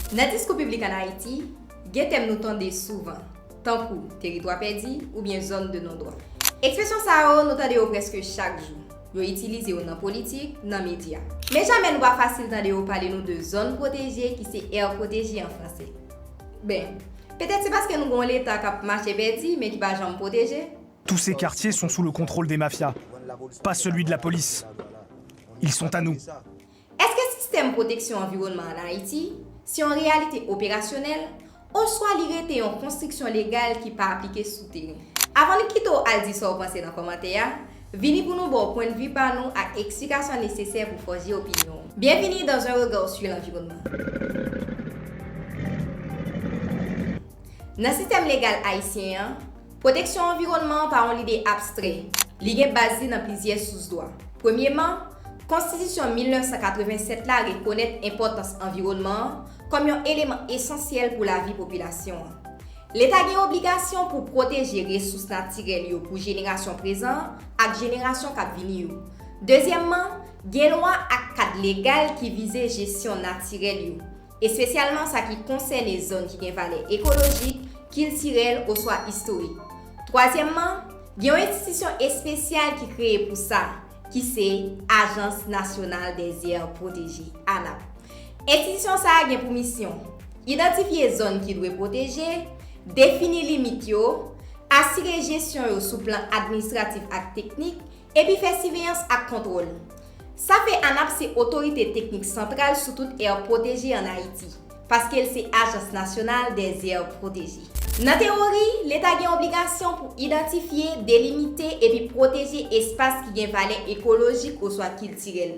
Nan diskou piblik an Ayiti, gen tèm nou tande souvan, tankou teritwa pèdi oubyen zòn de non dwa. Ekspresyon sa yo, nou tande yo prèske chak jou. Yo itilize yo nan politik, nan medya. Men jamè nou pa fasil tande yo pale nou de zòn pwoteje ki se aire protégée an franse. Ben, petèt se paske nou gen yon Leta k ap mache pèdi men ki pa janm pwoteje. Tous ces quartiers sont sous le contrôle des mafias, pas celui de la police. Ils sont à nous. Èske sistèm pwoteksyon anviwònman an Ayiti se yon reyalite operasyonèl oswa li rete yon konstriksyon legal ki pa aplike sou teren? Avan nou kite w al di sa w panse nan kòmantè a, vini pou nou ba w pwennvi pa nou ak eksplikasyon nesesè pou fòje opinyon w. Bienvenue dans un regard sur l'environnement Nan sistèm legal ayisyen an, Pwoteksyon anviwònman an pa yon lide abstrè. Li gen baz li nan plizyè sous dwa. Premyeman, Konstitisyon 1987 la rekonèt enpòtans anviwònman an kòm yon eleman esansyèl pou lavi popilasyon an. Leta gen obligasyon pou pwoteje resous natirèl yo pou jenerasyon prezan an ak jenerasyon k ap vini yo. Dezyèmman, gen lwa ak kad legal ki vize jesyon natirèl yo. Espesyalman sa ki konsène zòn ki gen valè ekolojik, kiltirèl oswa istorik. Twazyèmman, gen yon enstitisyon espesyal ki kreye pou sa, ki se Ajans Nasyonal dè Zè Pwoteje, ANAP. Enstitisyon sa a gen pou misyon, Idantifye zòn ki dwe pwoteje, defini limit yo, asire jesyon yo sou plan administratif ak teknik, Epi fè siveyans ak kontwòl. Sa fè ANAP se otorite teknik santral sou tout èr pwoteje an Ayiti, paske l se Ajans Nasyonal dè Zèr Pwoteje. Nan tewori, Leta gen obligasyon pou idantifye, delimite epi pwoteje espas ki gen valè ekolojik oswa kiltirèl.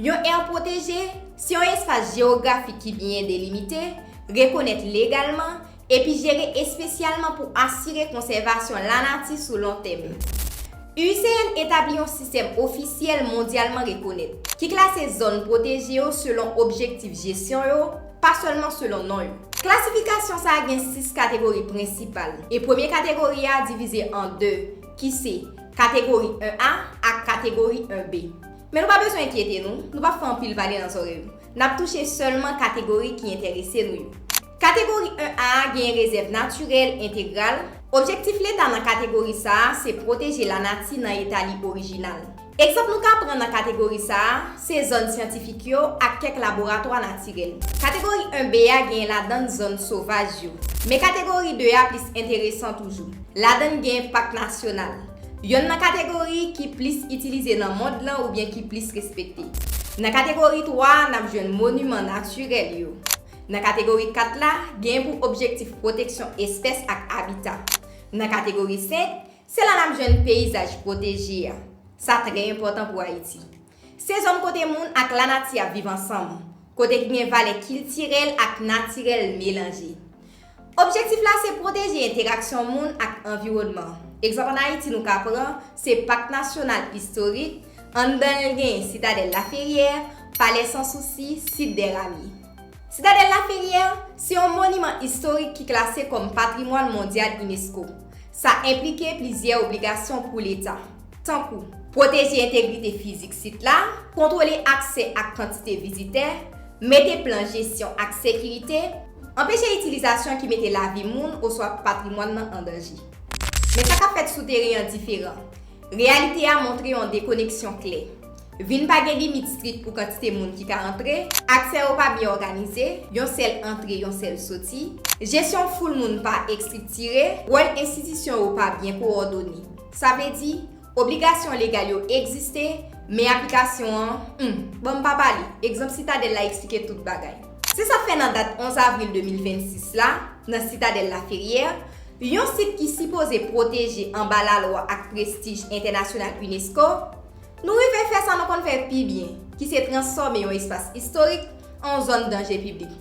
Yon èr pwoteje se yon espas jewografik ki byen delimite, rekonèt legalman, epi jere espesyalman pou asire konsèvasyon lanati sou lon tèm. IUCN etabli yon sistèm ofisyèl mondyalman rekonèt, ki klase zòn pwoteje yo selon objektif jesyon yo, pa sèlman selon non yo. Klasifikasyon sa a gen sis kategori prensipal, e premye kategori a divize an de, ki se, Kategori 1 A ak Kategori 1 B. Men nou pa bezwen enkyete nou, nou pap fè anpil pale nan zòrèy nou. Nap touche sèlman kategori ki enterese nou yo. Kategori 1 A a genyen rezèv natirèl entegral, Objektif Leta nan kategori sa a se pwoteje lanati nan eta li orijinal. Egzanp nou ka pran nan kategori sa a se zòn syantifik yo ak kèk laboratwa natirèl. Kategori 1 B a genyen ladann zòn sovaj yo. Men kategori 2 a plis enteresan toujou. Ladann genyen pak nasyonal. Yonn nan kategori ki plis itilize nan mond lan oubyen ki plis respekte. Nan kategori 3 a, n ap jwenn moniman natirèl yo. Nan kategori 4 la, genyen pou objektif pwoteksyon espès ak abita. Nan kategori 5, se la n ap jwenn peyizaj pwoteje a. Sa trè enpòtan pou Ayiti. Se zòn kote moun ak lanati ap viv ansanm, kote ki gen valè kiltirèl ak natirèl melanje. Objektif la se pwoteje enteraksyon moun ak anviwònman. Egzanp an Ayiti nou ka pran se Pak Nasyonal Istorik, anndan l gen Sitadèl Laferyè, Palè San Sousi, Sit dè Rami. Sitadèl Laferyè se yon moniman istorik ki klase kòm patrimwàn mondyal unesco. Sa enplike plizyè obligasyon pou Leta. tankou pwoteje entegrite fizik sit la, kontwole aksè ak kantite vizitè, mete plan jesyon ak sekirite, anpeche itilizasyon ki mete lavi moun oswa patrimwàn nan an danje. Men sa k ap fèt sou teren an diferan. Reyalite a montre yon dekoneksyon klè. Vin pa gen limit strik pou kantite moun ki ka antre, aksè yo pa byen òganize, yon sèl antre, yon sèl soti, jesyon foul moun pa estriktire, wòl enstitisyon yo pa byen kowòdone, Sa vle di, obligasyon legal yo egziste, men aplikasyon an, hum! Bon m pa pale, egzanp Sitadèl la eksplike tout bagay. Se sa k fè nan dat 11 avril 2026 la, nan Sitadèl Laferyè, yon sit ki sipoze pwoteje anba lalwa ak prestij entènasyonal unesco, nou rive fè sa nou konn fè pi byen, ki se transfòme yon espas istorik an yon zòn danje piblik.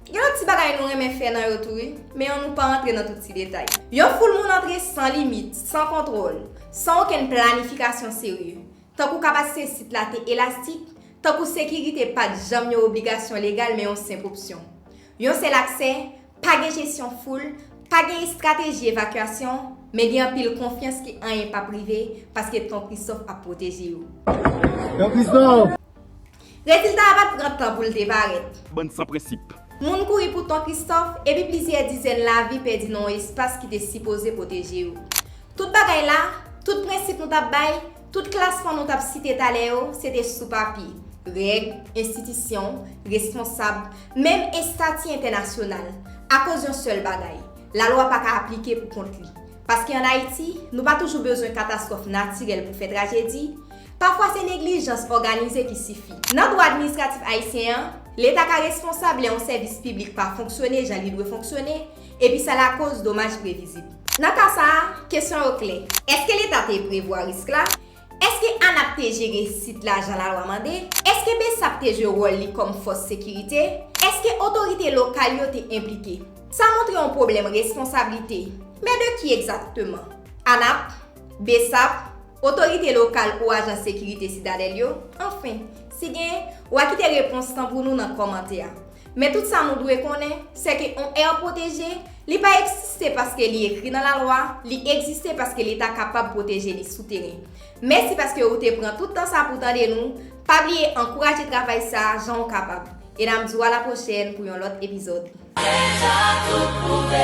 Gen lòt ti bagay nou renmen fè nan yo tou wi, men yon nou pa antre nan tout ti detay. Yon foul moun antre san limit, san kontwòl, san okenn planifikasyon serye. Tankou kapasite sit la te elastik, tankou sekirite pa t janm yon obligasyon legal men yon senp opsyon. Yon sèl aksè, pa gen jesyon foul, pa gen estrateji evakyasyon, men gen anpil konfyans ke anyen p ap rive paske Ton Kristòf ap pwoteje yo. Rezilta a pa t pran tan pou l te parèt. Bann san prensip. Moun kouri pou Ton Kristòf, epi plizyè dizèn lavi pèdi nan yon espas ki te sipoze pwoteje yo. Tout bagay la, tout prensip nou t ap bay, tout klasman nou t ap site talè yo, se te sou papye. Règ, enstitisyon, responsab, menm estati entènasyonal, akoz yon sèl bagay, lalwa pa ka aplike pou kont li. Paske an Ayiti, nou pa toujou bezwen katastwòf natirèl pou fè trajedi, pafwa se neglijans òganize ki sifi. Nan dwa administratif ayisyen an, Leta ka responsab lè yon sèvis piblik pa fonksyone jan li dwe fonksyone epi sa lakoz domaj previzib. Nan ka sa a, kesyon yo klè, èske Leta te prevwa risk la? Èske ANAP te jere sit la jan lalwa mande? Èske bsap te jwe wòl li kòm fòs sekirite? Èske otorite lokal yo te enplike? Sa montre yon pwoblèm responsablite. Men de ki egzakteman? ANAP? Bsap? Otorite lokal ou ajan sekirite Sitadèl yo? Anfen, si gen, wa kite repons lan pou nou nan kòmantè a. Men tout sa nou dwe konnen, sè ke on aire protégée, li pa eksiste paske li ekri nan lalwa, li ekziste paske leta kapab pwoteje li sou teren. Mèsi paske ou te pran tout tan sa pou tande nou, pa bliye ankouraje travay sa jan ou kapab. E nam di ou a la pwochèn pou yon lòt epizòd. Deja tout prouve.